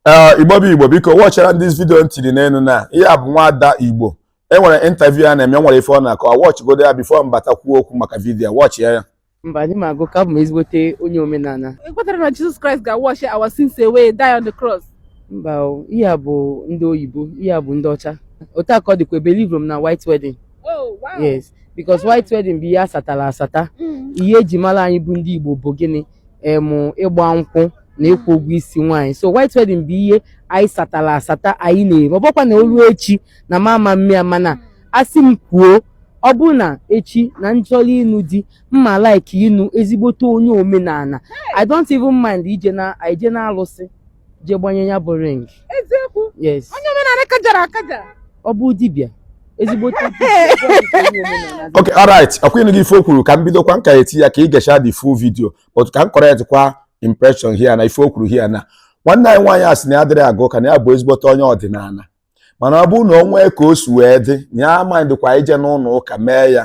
ee igbo bụ igbo biko watchara this video ntiri n'enu na ihe a bụ nwada igbo e nwere interview a na-eme nwere ife ọ na-akọ watchgodo ya before m bata kwuo okwu maka video watch ya mba anaghị m aga ụka abụ m ezigbote onye omenala ekwetarọ m na jesus christ ga-wash our sins away die on the cross mba o, ihe a bụ ndị oyibo ihe a bụ ndị ọcha otu a ka ọ dịkwa ebelieverọ m na white wedding oh wow yes because white wedding bụ ihe asatara asata Mm. ihe eji mara anyị bụ ndị igbo bụ gịnị em ịgba nkwụ na ịkwụ ụgwọ isi nwaanyị so white wedding bụ ihe anyị satara asata anyị na-eme ọ bụkwa na o lu echi na m ama mme ya mana asị m kwuo ọ bụrụ na echi na m chọrọ ịnụ di m ma like ịnụ ezigbote onye omenala i don't even mind ije na ije na alụsị je gbanye ya bụ ring eziokwu yes onye omenala kajara akaja ọ bụ dibịa ezigbo okay alright ọ kwa ị nụgo ife o kwuru ka m bidokwa m ka na-eti ya ka ị gecha the full video but ka m correct kwa impression here na ife o kwuru here na nwanne anyị nwaanyị a sị na ya adịrọ aga ụka na ya bụ ezigbote onye ọdịnala mana ọ bụrụ na o nwee ka o si wee dị na ya ama mindịkwa ije n'ụlọ ụka mee ya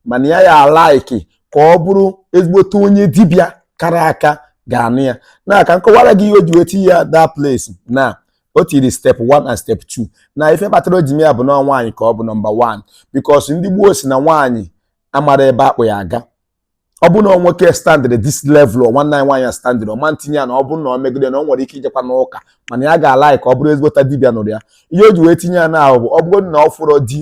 mana ya ya-alike ka ọ bụrụ ezigbote onye dibịa kara aka ga-anụ ya na ka m kọwara gị ihe o ji weti ya that place na o tiri step 1 and step 2 na ife kpatara o ji mee ya bụ na ọ nwaanyị ka ọ bụ number 1 because ndị gboo sị na nwaanyị amarọ ebe a kpụ ya aga ọ bụrụ na ọ nwoke standịrị this level nwanne anyị nwaanyị standịrị ọ ma ntinye ya na ọ bụ na o megodu na o nwere ike ijekwa n'ụka mana ya ga-alike ka ọ bụrụ ezigbote dibịa nụrụ ya ihe o ji wee tinye ya na ahụ bụ ọ bụrụ na ọ fụrọ di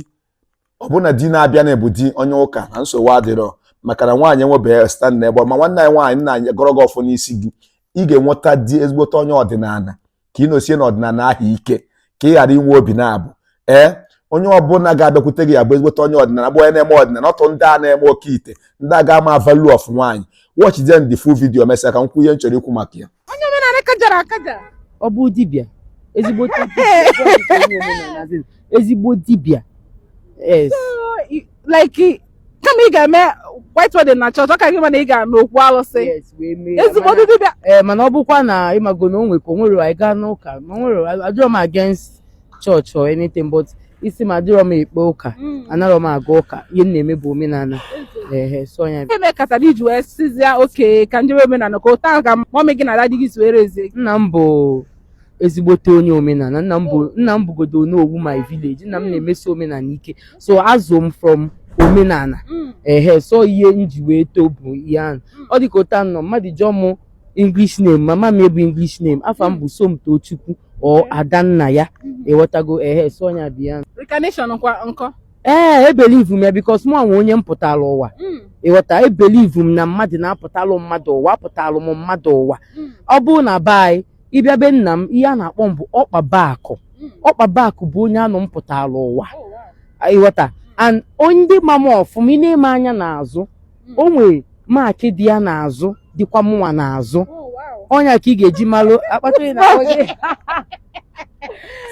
ọ bụ na di na-abịa na-abụ di onye ụka na nsogbu adịrọ maka na nwaanyị enwebeghị standịrị ebe ma nwanne anyị nwaanyị m na-agọrọ gị ọfọ n'isi di ị ga-enweta di ezigbote onye ọdịnala ka ị nosie n'ọdịnala ahụ ike ka ị ghara inwe obi nabụọ ee onye ọbụla ga-abịakwute gị ya bụ ezigbote onye ọdịnala bụ onye na-eme ọdịnala not ndị a na-eme oke ite ndị a ga-ama value of nwaanyị watch then the full video mesịa ka m kwuo ihe m chọrọ ikwu maka ya onye omenala kajara akaja ọ bụ dibịa ezigbo dibịa ezigbo dibịa yes So, i- like kama ị ga-eme white wedding na church ọ ka gị mma na ị ga n'okwu alụsị Yes, wee mee ya. ezigbo Mana- dibịa ee mana ọ bụkwa na ị mago na o nwekwa o nwere anyị gaa n'ụka ma o nwere adịrọ m against church or anything but isi m adịrọ m ekpe ụka anarọ m aga ụka ihe m na-eme bụ omenala ehe so ya ihe mekatara i ji wee sịzịa okay ka m jebe omenala ka otu ahụ ka mummy gị na daddy gị si were ezie gị nna m bụ ezigbote onye omenala nna m bụ nna m bụgodo onowu my village nna m na-emesi omenala ike so a zụ m from omenala ehe so ihe m ji wee too bụ ihe ahụ ọ dịka otu anọ mmadụ jụọ m english name mama m bụ english name afa m bụ somtochukwu or adanna ya ị ghọtago ehe so ọnya bụ ya Reincarnation kwa nkọ ee ebelieve m ya because mụwa nwe onye m pụtara ụwa ị ghọta ebelieve m na mmadụ na-apụtalụ mmadụ ụwa apụtalụ m mmadụ ụwa ọ bụrụ na be anyị ị bịa be nna m ihe a na-akpọ m bụ ọkpaba akụ ọkpaba akụ bụ onye anụ m pụtara ụwa ịghọta and ndị ma m ọfụma i nee m anya n'azụ o nwere maakị dị ya n'azụ dịkwa mụnwa n'azụ ọ nya ka ị ga-eji malụ akpata ị na-akpọ gị.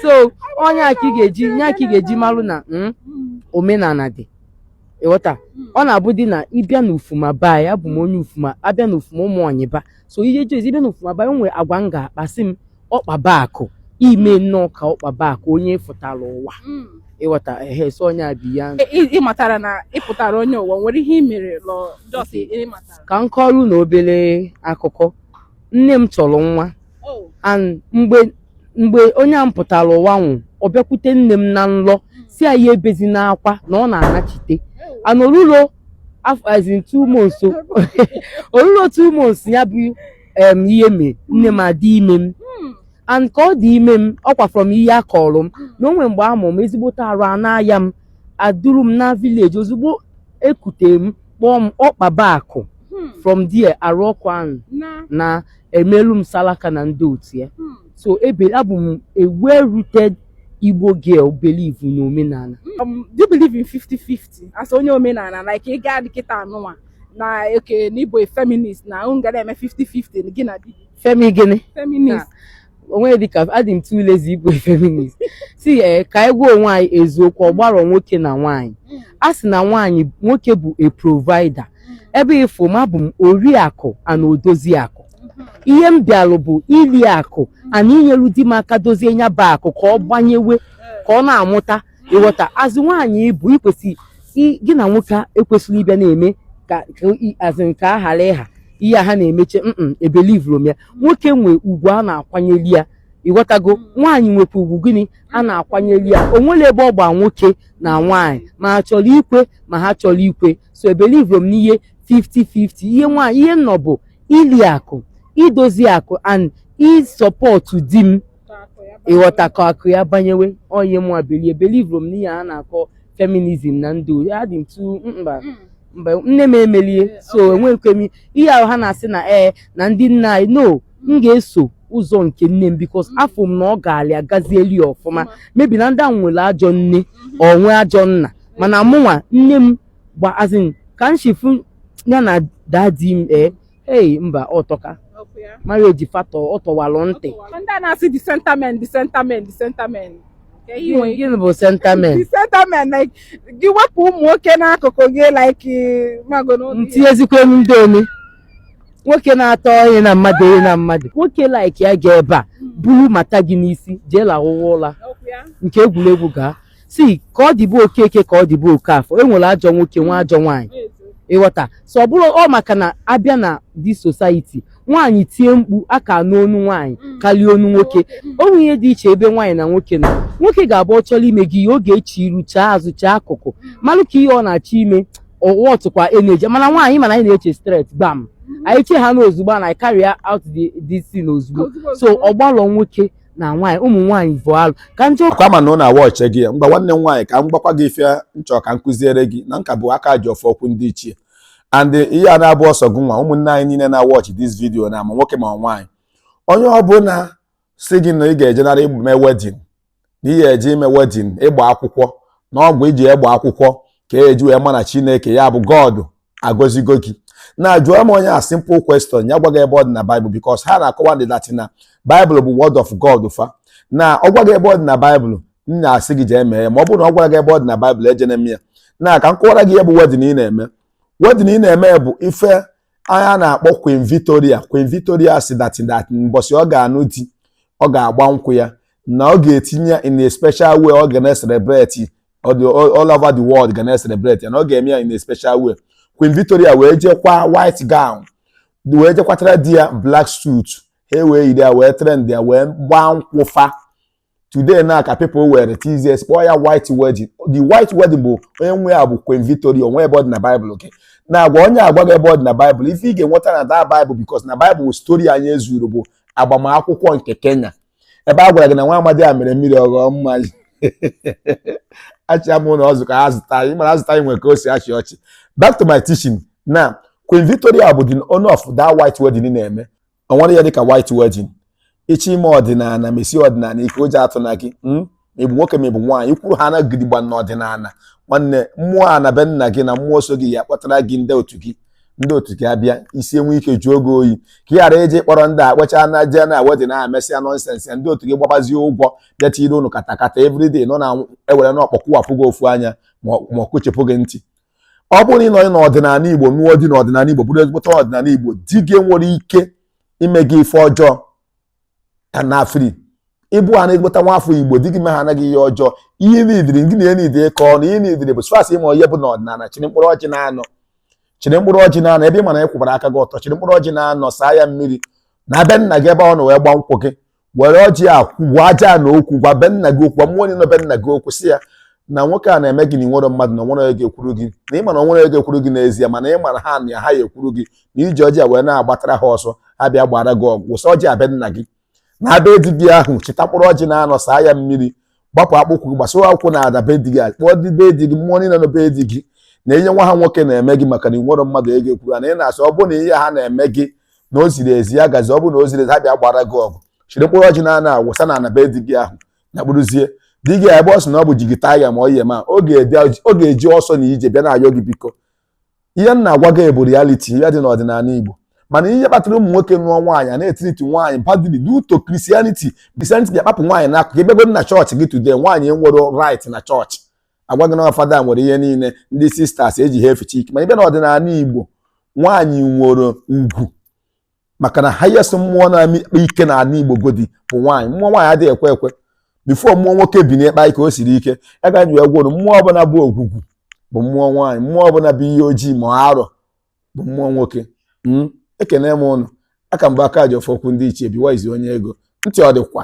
so ọ nya ka ị ga-eji nya ka ị ga-eji malụ na mm, omenala dị ịghọta ọ na-abụdị na ị bịa n'ufuma ba ya abụ m onye ufuma abịa n'ufuma ụmụonyiba so ihe jos ị bịa n'ufuma ba enwe agwa m ga-akpa asị m ọkpaba akụ i me nnọọ ka ọkpaba akụ onye ị fụtara ụwa Mm. ịghọta ehe so onye a bi ya E- ị ị matara na ị pụtara onye ụwa nwere ihe ị mere lọ jos ị matara ka m kọọrọ unu obere akụkọ nne m chọrọ nwa Oh. and mgbe mgbe onye a m pụtara ụwa nwụ ọ bịakwute nne m na nlọ si ya ya ebezina akwa na ọ na-anachite and orulo as in two months o. orulo two months ya bụ em, ihe mee nne m adị ime m and ka ọ dị ime m ọ kwa from ihe a kọrọ m na o nwe mgbe a mụ m ezigbote arụ ana-aya m a duru m naa vileji ozugbo e kute m kpọọ m ọkpaba akụ Hmm. from there arụ ọkụ ahụ naa e melu m salaka na ndị otu ya hmm, so abụ m a well rooted igbo girl believe na omenala um, do you believe in 50-50 as onye omenala like ị gaa di kịta anụnwa na oke na ị bụ a feminist na unu ga na-eme 50-50 gị na di gị femi gịnị feminist onwe dịka adị m too lazy ịbụ feminist si ee ka anyị gwa onwe anyị eziokwu ọ gbarọ nwoke na nwaanyị a sị na nwaanyị nwoke bụ a provider ebe ị fụ m abụ m oriakụ and odozi akụ ihe m bịalụ bụ ili akụ and inyelu di m aka dozie nya bụ akụ ka ọ banyewe ka ọ na-amụta ịghọta as nwaanyị ị bụ i kwesị i- gị na nwoke ekwesịrọ ịbịa na-eme ka ka i- as ka a hara ịha ihe a ha na-emeche mm ebelivurọ m ya nwoke nwe ugwu a na-akwanyeli ya ịghọtago nwaanyị nwekwa ugwu gịnị a na-akwanyeli ya o nwere ebe ọ gba nwoke na nwaanyị ma ha chọrọ ikwe ma ha achọrọ ikwe so ebelivurọ m n'ihe 50-50 ihe nwaanyị ihe m nọ bụ ili akụ idozi akụ and isọpọtụ di m ịghọta ka akụ ya banyewe ọ nya mụ believe ebelivurọ m n'ihe a na-akọ feminizm na ndụ adị m tu mba mm. mba nne m emelie so enweghịkwa m ihe ahụ ha na-asị na ee eh, na ndị nna anyị no m mm. ga-eso ụzọ nke nne m bikos mm. afụ m na ọ ga-alị agazieli ya ọfụma mebi na ndị ahụ nwere ajọ nne mm-hmm. or nwe ajọ nna mana mụnwa nne m gba as in ka m shi fụ ya na dadi m ee eh, ei mba ọ tọka marriage fatọ ọ tọwalụ ntị ndị a na-asị the sentiment the sentiment the sentiment Ka ihe nwere ike- gịnị bụ sentiment the sentiment like gị wepụ ụmụ nwoke n'akụkụ gị like mago n'ụlọ ya. ntinyezikwa elu ndị omi nwoke na-atọ onye na mmadụ onye na mmadụ nwoke like ya ga ebe a buru mata gị n'isi jee lahụwa ụra Okwu ya. nke egwuregwu gaa sị ka ọ dị be Okeke ka ọ dị be Okafọ e nwere ajọ nwoke nwee ajọ nwaanyị ị ghọta so ọ bụrọ maka na a bịa na the society nwaanyị tie mkpu a ka anụ onu nwaanyị karịa onu nwoke o nwere ihe dị iche ebe nwaanyị na nwoke nọ nwoke ga-abụ ọ chọrọ ime gị ihe ọ ga-eche iru chee azụ chee akụkụ malụ ka ihe ọ na-achọ ime ọwa ọtụkwa energy mana nwaanyị mana anyị na-eche straight gbam anyị chee ha n'ozugbo na anyị carry out the the scene ozugbo so ọ gbalụ nwoke na nwaanyị ụmụ nwaanyị bụ alụ ka njọ kwa ma na ọ na-awatch gị ya mgba nwanne m nwaanyị ka m gwakwa gị ife m chọ ka m kụziere gị na nka bụ aka ji ọfọ okwu ndị ichie and ihe a na abụrọ sọ gị nwa ụmụnne anyị niile na-awatch this video na ma nwoke ma nwaanyị onye ọbụla sị gị na ị ga-ejenara ime wedding na ihe e ji eme wedding ịgba akwụkwọ na ọ bụ ị je gbaa akwụkwọ ka e ji wee ma na chineke ya bụ God agọzigo gị na jụọ m onye a simple question ya gwa gị ebe ọ dị na Bible because ha na-akọwa ndị that na Bible bụ word of God fa na ọ gwa gị ebe ọ dị na Bible m na-asị gị jee mee ya ma ọ bụrụ na ọ gwarọ gị ebe ọ dị na Bible ejena eme ya na ka m kọwara gị ihe bụ wedding ị na-eme wedding ị na-eme bụ ife onye a na-akpọ Queen Victoria Queen Victoria sị that that mbọsị ọ ga-anụ di ọ ga-agba nkwụ ya na ọ ga-etinye ya in a special way ọ ga na-celebrate ọ dị all over the world ga na-celebrate ya na ọ ga-eme ya in a special way Queen Victoria wee jee kwaa white gown wee jee kwatara di ya black suit ha ewee yiri ya wee trend ya wee gbaa nkwụ fa today na ka people wee twist kpọọ ya white wedding the white wedding bụ onye nwe ya bụ Queen Victoria o nwerọ ebe ọ dị na Bible okay na-agwa onye a gwa gị ebe ọ dị na Bible ife ị ga-enweta na that Bible because na Bible story anyị e zuru bụ agbamakwụkwọ nke Cana ebe a gwara gị na nwa amadị a mere mmiri ọ ghọọ mmanya achịa m na ọzụ ka ha zụta anyị mara azụta anyị nwere ka o si achị ọchị back to my teaching na Queen Victoria bụ the owner of that white wedding na-eme o nwerọ ihe dịka white wedding ị chọọ ime ọdịnala mesie ọdịnala ike ụjọ atụna gị hmm? ma ị bụ nwoke ma ị bụ nwaanyị kwụrụ ha na gidigba n'ọdịnala nwanne mmụọ ana be nna gị na mmụọ so gị ya akpọtara gị ndị otu gị ndị otu gị abịa isi enwee ike jụọ gị oyi ka ị ghara ije kpọrọ ndị a kpọchaa na jee na wedding e mesịa nonsense ya ndị otu gị gbabazie ụgwọ bịa tiri unu katakata everyday nọ na ewere na ọkpọ kụwapụ gị ofu anya ma ọ kụchipụ gị ntị ọ bụrụ na ị nọ n'ọdịnala igbo nụọ di n'ọdịnala igbo bụrụ ezigbote ọdịnala igbo di gị enwerọ ike ime gị ife ọjọọ ka na afri ịbụ ha na-egbota nwa afọ igbo di gị mehana gị ihe ọjọọ ihe nidiri gị na ihe nidiri ka ọnụ ihe nidiri bụ as far as ị ma onye ị bụ na ọdịnala chịrị mkpụrụ ọjị na-anọ chịrị mkpụrụ ọjị na-anọ ebe ị ma na ị kwụbara aka gị ọtọ chịrị mkpụrụ ọjị na-anọ saa ya mmiri na be nna gị ebe ọ nọ wee gbaa nkwụ gị were ọjị a gwa ajana okwu gwa be nna gị okwu gwa mmụọ niile nọ be nna gị okwu sị ya na nwoke a na-eme gị na i nwero mmadụ na i nwero onye ga-ekwuru gị na ị ma na i nwero onye ga-ekwuru gị n'ezie mana ị mara ha na ha ya-ekwuru gị na i ji ọjị a wee na-agbatara ha ọsọ ha bịa gbaara gị ọgụ wụsa ọjị a be nna gị naba be di gị ahụ chịta mkpụrụ ọjị na-anọ saa ya mmiri gbapụ akpụkwụ gị gbasoo ụkwụ na ana be di gị kpọọ ndị be di gị mmụọ niile nọ be di gị na ihe nwa ha nwoke na-eme gị maka na i nwero mmadụ ga-ekwuru na ị na-asị ọ bụrụ na ihe ha na-eme gị na o ziri ezi ya gazie ọ bụrụ na o ziro ezi ha bịa gbaara gị ọgụ chịrị mkpụrụ ọjị na-anọ a wụsa na ana be di gị ahụ na kpụrụzie di gị ebe ọ sị na ọ bụ jigita ya ma ọ yi ma ọ ga-eji ọsọ na ije bịa na-ayọ gị biko ihe m na-agwa gị bụ reality ihe dị n'ọdịnala Igbo mana ihe kpatara ụmụ nwoke nụọ nwaanyị a na-etiriti nwaanyị badly due to Christianity Christianity bịa kpapụ nwaanyị n'akụkụ ị bịagodu na chọọchị gị today nwaanyị enwero right na chọọchị a gwa gị na fada nwere ihe niile ndị sisters e ji ha eficha ike mana ị bịa n'ọdịnala Igbo nwaanyị nwere ugwu maka na highest mmụọ na-akpa ike na ala igbo godi bụ nwaanyị mmụọ nwaanyị adịghị ekwe ekwe before mmụọ nwoke binie kpa ike o siri ike ya ga nji egwuru mmụọ ọbụla bụ ogwugwu bụ mmụọ nwaanyị mmụọ ọbụla bụ iyi ojii ma arọ bụ mmụọ nwoke hmm? ekene m unu aka mgbe aka ji ọfọ kwu ndị ichie biwaizi onye ego ntị ọ dịkwa